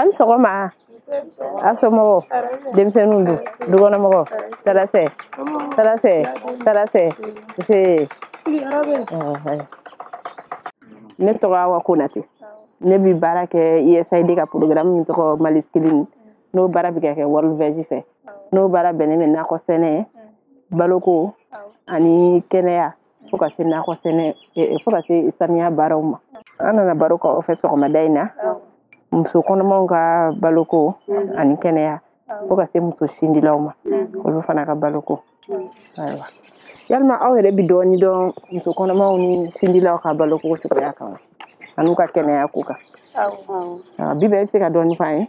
an sɔgɔma a somɔgɔw denmisɛnninw don dukɔnɔmɔgɔw tarasɛ tarasɛ tarasɛ see ne tɔgɔ awa konate ne bi baara kɛ usaid ka programme min tɔgɔ mali scaling n'o baara bi ka kɛ worldveg fɛ n'o baara bɛnnen bɛ nakɔ sɛnɛ baloko ani kɛnɛya fo ka se nakɔ sɛnɛ fo ka se saniya baaraw ma an nana baro k'aw fɛ sɔgɔmada in na muso kɔnɔmaw ka baloko ani kɛnɛya fo ka se muso sindilaw ma olu fana ka baloko ayiwa yalima aw yɛrɛ bi dɔɔni dɔn muso kɔnɔmaw ni sindilaw ka baloko cogoya kan wa an'u ka kɛnɛya ko kan bi bɛɛ bɛ se ka dɔɔni f'an ye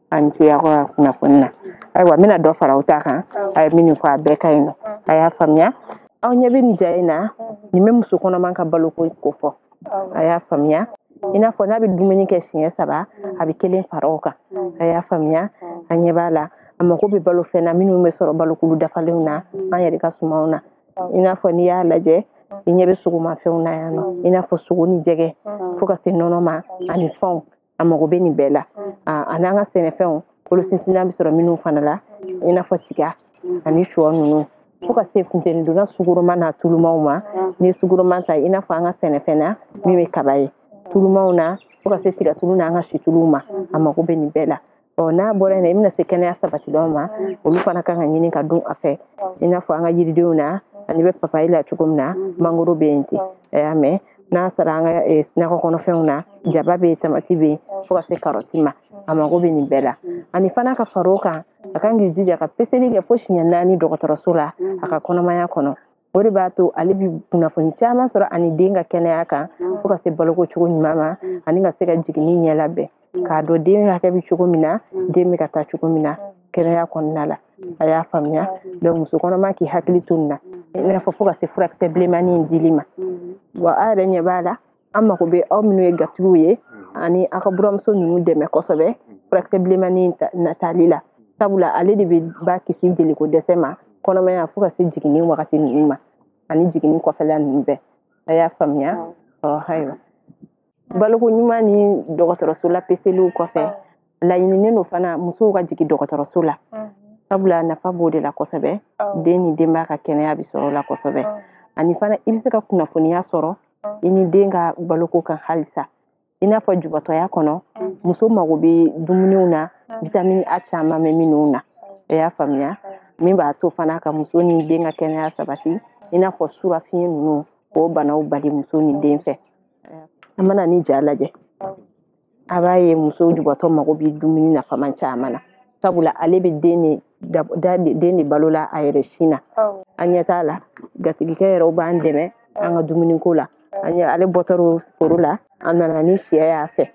a ni ce aw ka kunnafoni na ayiwa n bɛna dɔ fara aw ta kan a ye minnu fɔ a bɛɛ ka ɲi nɔ a y'a faamuya aw ɲɛ bɛ nin ja in na nin bɛ muso kɔnɔma ka baloko ko fɔ a y'a faamuya i n'a fɔ n'a bɛ dumuni kɛ siɲɛ saba a bɛ kelen fara o kan a y'a faamuya a ɲɛ b'a la a mako bɛ balo fɛn na minnu bɛ sɔrɔ balokulu dafalenw na an yɛrɛ ka sumanw na i n'a fɔ n'i y'a lajɛ i ɲɛ bɛ sogomafɛnw na yan nɔ i n'a fɔ sogo ni jɛgɛ fo ka se nɔnɔ ma ani fɛnw a mago bɛ nin bɛɛ la an'an ka sɛnɛfɛnw kolo sinsinna bɛ sɔrɔ minnu fana la i n'a fɔ tiga ani shɔ ninnu fo ka se funteni donna sukaroma n'a tulumaw ma n'i ye sukaroma ta i n'a fɔ an ka sɛnɛfɛn na min bɛ kaba ye tulumaw na fo ka se tigatulu n'an ka situluw ma a mago bɛ nin bɛɛ la ɔ n'a bɔra yen i bɛna se kɛnɛya sabatilanw ma olu fana kan ka ɲini ka dun a fɛ i n'a fɔ an ka yiridenw na a ɲɛ bɛ papayi la cogo min na mangoro bɛ yen ten a y'a mɛn n'a sera an ka nakɔ kɔnɔfɛnw na jaba bɛ yen tamati bɛ yen fo ka se karɔti ma a mago bɛ nin bɛɛ la ani fana ka fara o kan a kan k'i jija ka peseli kɛ fo siɲɛ naani dɔgɔtɔrɔso la a ka kɔnɔmaya kɔnɔ o de b'a to ale bi kunnafoni caman sɔrɔ a ni den ka kɛnɛya kan mm. fo ka se baloko cogo ɲuman ma mm. ani ka se ka jiginni ɲɛ labɛn mm. k'a dɔn den hakɛ bɛ cogo min na den bɛ ka taa cogo min na kɛnɛya kɔnɔna la a y'a faamuya donc muso kɔnɔma k'i hakili to nin na i n'a fɔ fo ka se furakisɛ bilenmani in dili ma wa a yɛrɛ ɲɛ b'a la an mago bɛ aw minnu ye gatigiw ye ani aw ka buranmuso ninnu dɛmɛ kosɛbɛ furakisɛ bilenmani in tali la sabula ale de bɛ ba kisi jeliko dɛsɛ ma kɔnɔmaya fo ka se jiginni wagati ninnu ma ani jiginni kɔfɛla ninnu bɛɛ a y'a faamuya ɔ ayiwa baloko ɲuman ni dɔgɔtɔrɔso la peseliw kɔfɛ laɲininen don fana musow ka jigin dɔgɔtɔrɔso la sabula nafa b'o de la kosɛbɛ den ni denbaya ka kɛnɛya bɛ sɔrɔ o la kosɛbɛ ani fana i bɛ se ka kunnafoniya sɔrɔ i ni den ka baloko kan halisa i n'a fɔ jubatɔya kɔnɔ muso mago bɛ dumuniw na vitamini a caman bɛ minnu na a y'a faamuya min b'a to fana ka muso ni den ka kɛnɛya sabati i n'a fɔ surafiɲɛ ninnu k'o banaw bali muso ni den fɛ an mana nin ja lajɛ a b'a ye muso jubatɔ mago bɛ dumuni nafama caman na sabula ale bɛ den de balo la a yɛrɛ sin na an ɲɛ t'a la gatigikɛ yɛrɛ b'an dɛmɛ an ka dumuniko la ale bɔtɔrɔ foro la a nana ni sɛ y'a fɛ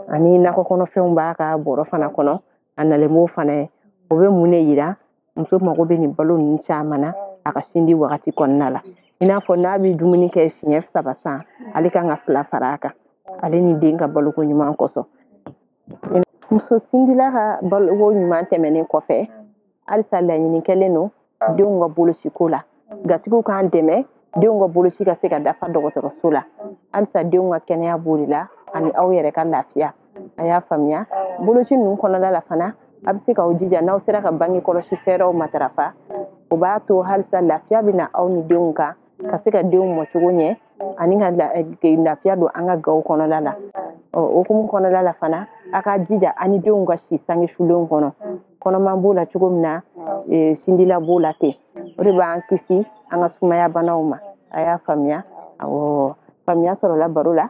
ani nakɔ kɔnɔfɛnw b'a ka bɔrɔ fana kɔnɔ a nalen b'o fana ye o bɛ mun de yira muso mago bɛ nin balo ninnu caman na a ka sindi wagati kɔnɔna la i n'a fɔ n'a bɛ dumuni kɛ siɲɛ saba san ale kan ka fila fara a kan ale ni den ka baloko ɲuman kosɔn muso sindila ka baloko ɲuman tɛmɛnen kɔfɛ halisa laɲini kɛlen don denw ka bolociko la gatigiw k'an dɛmɛ denw ka boloci ka se ka dafa dɔgɔtɔrɔso la halisa denw ka kɛnɛya b'o de la ani aw yɛrɛ ka lafiya a y'a faamuya boloci ninnu kɔnɔna la fana a bɛ se k'aw jija n'aw sera ka bange kɔlɔsi fɛɛrɛw matarafa o b'a to halisa lafiya bɛ na aw ni denw kan ka se ka denw mɔcogo ɲɛ ani ka eh, lafiya don an ka gaw kɔnɔla la ɔ o hukumu kɔnɔla la fana a k'a jija a ni denw ka si sange sulenw kɔnɔ kɔnɔma b'o la cogo min na eh, sindila b'o la ten o de b'an kisi an ka sumaya banaw ma a y'a faamuya awɔ faamuya sɔrɔla baro la